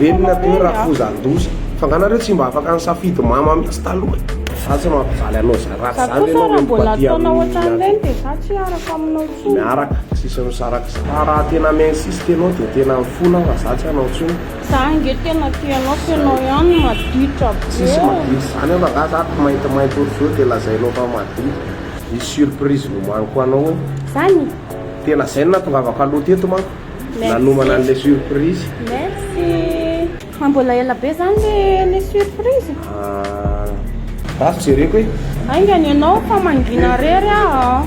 Renina be rafozan-doza. Fa nga nareo tsy mba afaka nisafidy mama mihitsy taloha e? Za tsy mampijaly anao za raha tsy zany enao mety mba tia an'olona miaraka tsisy misaraka za raha tena mi insiste enao de tena mifona aho fa za tsy hanao intsony. Za ange tena tia anao fa ianao ihany no maditra be. Tsisy maditra zany aho rangahy za ato mainty mainty ohatry zao de lazainao fa maditra. Misy surprise nomaniko ho anao e. Zany? Tena zay no nahatongavako aloha teto manko nanomana anle surprise. Merci. Fa mbola ela be zany le le surprise? Ah ratsy jereko e. Aingany ianao fa mangina rery aho.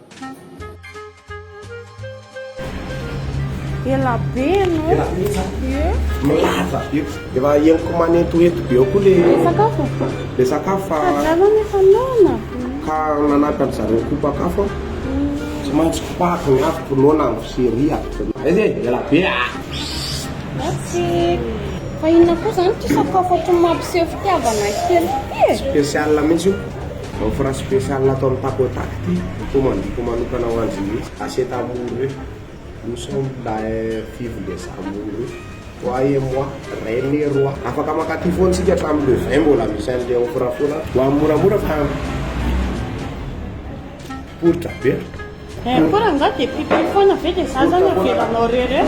Ela be no. Ela be za. Ye. Milaza be. Efa henoko manentohento be ao koa le. Le sakafo. Le sakafo fa. Zareo efa noana. Ka nanaka ny zareo kopakafo. Tsy maintsy kopako ny afoko noana amin'ny fiseria. Aiza e? Ela be ah. Merci. Fa inona koa zany ity sakafo ohatran'ny mampiseho fitiavana kely ity e? Spécial mihitsy io. Offre spéciale ataon'i Pakoda ity, ho commandiko manokana ho an'dry mihitsy, aset amour io, nous sommes là eh, vive les amours io, toi et moi, reine et roi, afaka mankaty foana isika hatramin'ny le vingt mbola misy an'le offre foana any, ho an'ny moramora fa poritra be a. Eh, koa rangahy dia pipy foana ve dia za zany avelanao rery eh.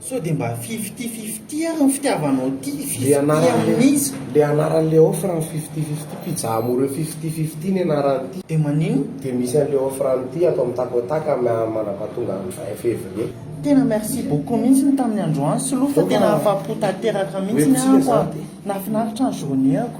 Sao dia mba fifty fifty ary ny fitiavanao ity fifty amin'ny iza? Le anaran'le offre ny fifty fifty, pizza amoureux fifty fifty ny anaran'ity. Dia maninona? Dia misy an'le offre an'ity ato amin'ny Takotak mandrapahatonga andro vingt février. Tena merci beaucoup mihitsy ny tamin'ny androany Slo fa tena afapo tanteraka mihitsy ny ahy ko a! Nahafinaritra ny journée-ko.